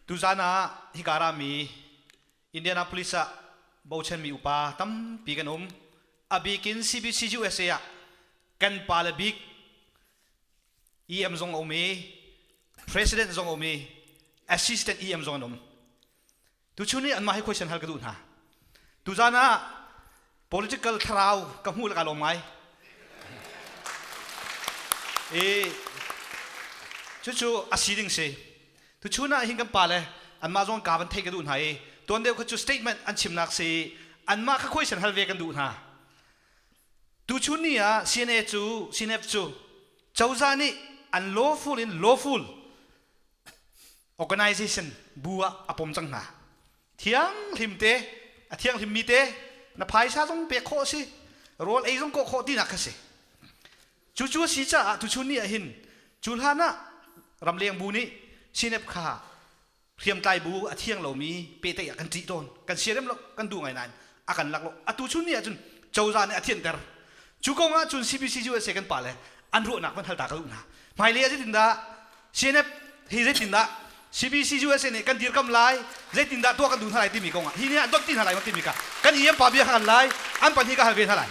Tuzan ah hika rami Indianapolis ah bochanmi upa tampi kan um. A bikin CBC USA ah kan pale bik EM zong a um i president zong a um i assistant EM zong an um. Tuchun i anmah hi question hal ka duh hna. Tuzan ah political thlarau ka hmuh lak ah lawm ngai i cucu a si ding si tuchun ah hin kan pa le anmah zong ka van theih ka duh hna i tuan deuh kha cu statement an chimnak si anmah kha khuaisen hal ve kan duh hna tuchun ni ah CNA cu CNF cu cozah nih an lawful in lawful organization bu ah a pom cang hna. Thianghlim te, a thianghlim mi te na phaisa zong pek khawh a si, rawl ei zong kawh khawh tinak kha si. Cucu a si caah tuchun ni ahhin cu hlan ah ramleng bu nih sinep kha hriamtlai bu a thiang lomi pehtlaih ah kan ṭih tawn. Kan siarem lo, kan duh ngai nain a kan lak lo atu chun ni ahcun cozah nih a thianter cu kong ahcun CPCU USA kan pa le an ruahnak van hal ta ka duh hna hmailei ah zeitindah CNF hi zeitindah CPCU USA nih kan dirkam lai zeitindah tuah kan duh hna lai timi kong ah hi ni ah dot ti hna lai ko timi kha kan IM pa bia kha kan lai an pahnih ka hal ve hna lai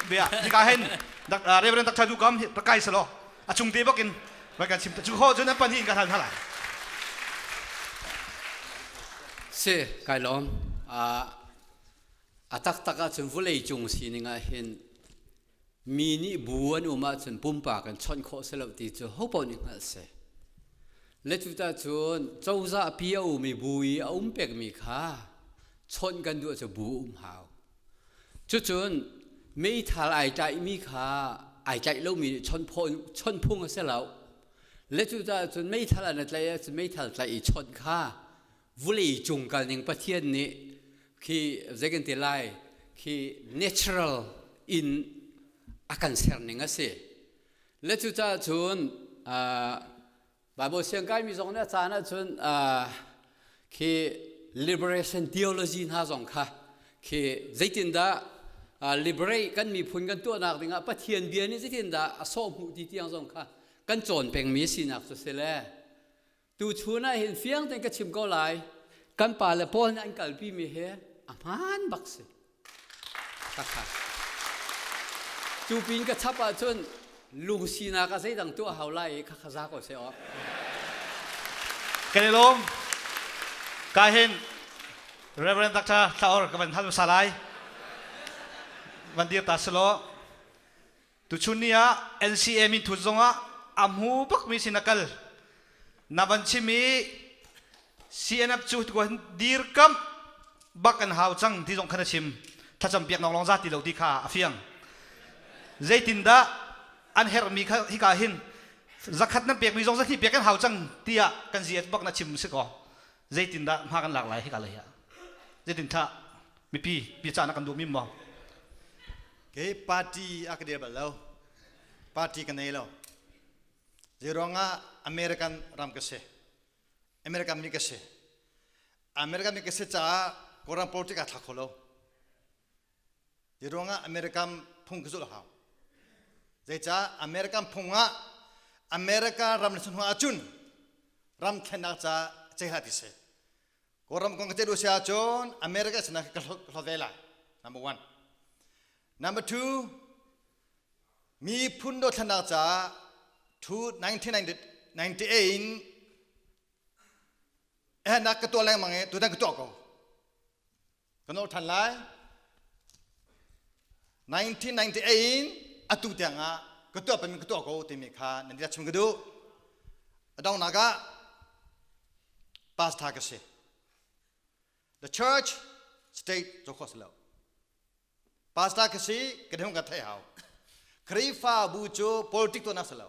bia hika hen Reverend Dr. Duh Kam hi kai salo a chung te bak in rai kan sim cu kho cun an pahnih in ka hal hna lai si kai lawm a taktak ahcun vulei cung sining ah hin mi nih bu an um ahcun pumpak in chawnh khawh si lo ti cu hopaoh nih hngalh si le cuta cun cozah pi a um i bu i a um pekmi kha chawnh kan duh ahcun bu um hau Cucun meithal ai tlaihmi kha ai tlaih lomi nih chawnh phung a si lo. Le cucaah cun meithal an i tlaih ahcun meithal tlaih i chawnh kha vulei cung kalning Pathian nih khi zei kan ti lai khi natural in a kan serning a si. Le cucaah cun Bible siang kaimi zong nih a caan ahcun uh, khi liberation theology hna zong kha khi zeitindah uh, liberate kan miphun kan tuahnak dingah Pathian bia nih zeitindah a sawh hmuh ti tiang zong kha kan cawn pengmi sinak cu si le tu chun ah hin fiang tein ka chim ko lai kan pa le Paul nih an kalpimi hi a hmaan bak si Cu pin ka chap ahcun lung sinak ah zeidang tuah hau lai i khakha za ko seh aw. Kan i lawm. Ka hin Reverend Dr. Thlaor ka van hal hmasa lai. Van dir ta selaw. Tuchun ni ah NCA minthut zongah a hmu bakmi sin a kal. Na van chim i CNF cu tuan dirkamh bak an hau cang ti zong khan a chim. Thlacam piak ngok lawng za ti lo ti kha a fiang. Zeitindah an herhmi kha hika hin zakhat nan pekmi zong zakhi pek an hau cang tiah kan ziat bak na chim si kaw zeitindah hma kan lak lai hika lei ah zeitin tha mipi pica na kan duh mi maw kei party a ka dir bal lo party ka nei lo zeiruang ah american ram ka si american mi ka si american mi ka si caah kawlram politik aa thla kho lo Hi ruangah American phung ka zulh hau. Zeicah American phung ah America ram na si hnuah ahcun ram thlennak ca ceha ti si. Kawlram kong ka ceih si ahcun America sinah ka hlo, ka hlo ve lai. Number one. Number two, miphun dothlennak ca 1998 in ehnak ka tuah lengmang i tutan ka tuah ko. Kan auh ṭhan lai. 1998 in atu tiangah ka tuah pengmi ka tuah ko timi kha nan i chim ka duh. A donghnak ah pastor ka si. The church, state cu kho si lo. Pastor ka si, ka dehung ka theih hau. Khrihfabu cu politik tuahnak si lo.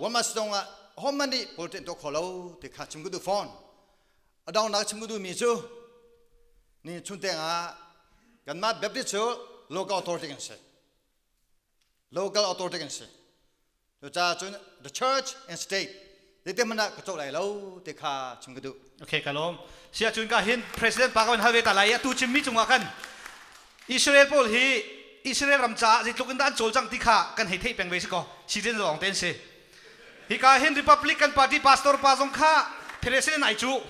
wamas dong ah hom man nih pulten to kho lo te kha chim ku du phone adang nak chim ku du mi cu ni chun teng ah kanmah baptist cu local authority kan si local authority kan si cu ca cun the church and state Tete hmanh ah ka cawh lai lo te kha chung ka duh. Okay ka lawm. Sia cun ka hin president pa ka van hal ve ta lai i atu cimmi cungah khan Israel pawl hi Israel ram caah zeitluk in dah an cawlcang ti kha kan hei theih peng ve si kaw citizen lawng te an si. Hika hin Republican party pastor pa zong kha president ai cuh.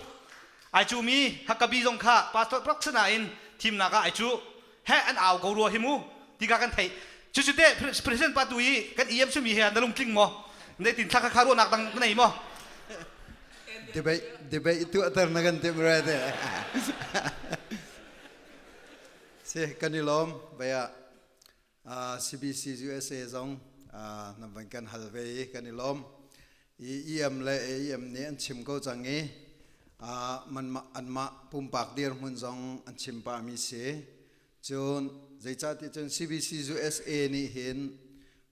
Ai cuhmi Huckabee zong kha pastor paksa nain thimnak ah ai cuh. he an au ko rua hi mu ti ka kan thei cucu te president pa tu i kan em sumi he na lungtling maw na tin thla kha ruahnak dang na nei maw debate debate tu atar na kan tim ra te si kan i lom baya CBC USA zong nam van kan hal ve kan i lom EM le AEM nih an chim ko cang i anmah pumpak dirhmun zong an chim pahmi si. Cun zeicahtiah cun CBC USA nih hin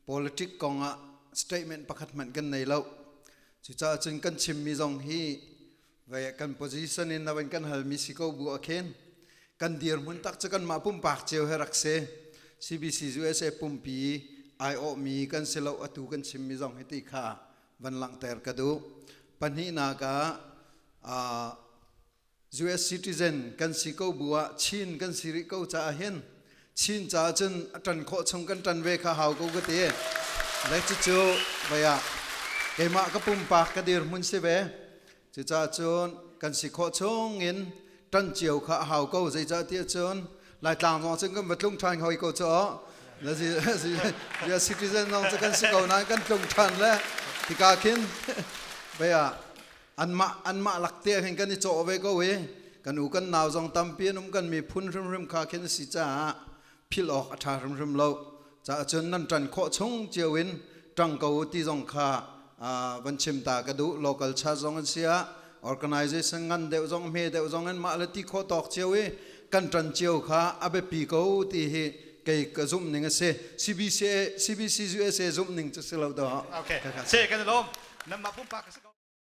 politic kong ah statement pakhat hmanh kan nei lo. Cucaah cun kan chimmi zong hi Ve kan position in nawan kan halmi si ko bu akhen kan dirmun tak chu kanmah pumpak cio he rak se CBC USA pumpi ai mi kan silo atu kan chimmi zong hi ti kha van langter ka du pahnih na ka US citizen kan si ko buah chin kan si ri ko ca hin Chin caah cun a ṭan khawh chung kan ṭan ve kha hau ko ka ti. Lei cucu vaya keimah ka pumpak ka dirhmun si ve. Cucaah cun kan si khawh chung in ṭan cio kha a hau ko. Zeicah tiah cun Laitlang zong cun kan va tlung ṭhan hoi ko cu Bia citizen zong cu kan si ko nain kan tlung ṭhan le tika khin vaya anmah anmah lak te khin kan i cawh ve ko i kan u kan nau zong tampi an um kan miphun hrimhrim kha khin si caah phil awk a ṭha hrimhrim lo caah cun nan ṭan khawh chung cio in ṭang ko u ti zong kha van chim ta ka duh local charge zong an si ah organization ngan deuh zong hme deuh zong in mah le ti khaw tawk cio i kan ṭan cio kha a biapi ko ti hi kei ka zumh ning a si CBC CBC USA zumh ning cu si lo do okay se kan lom namma pumpa ka si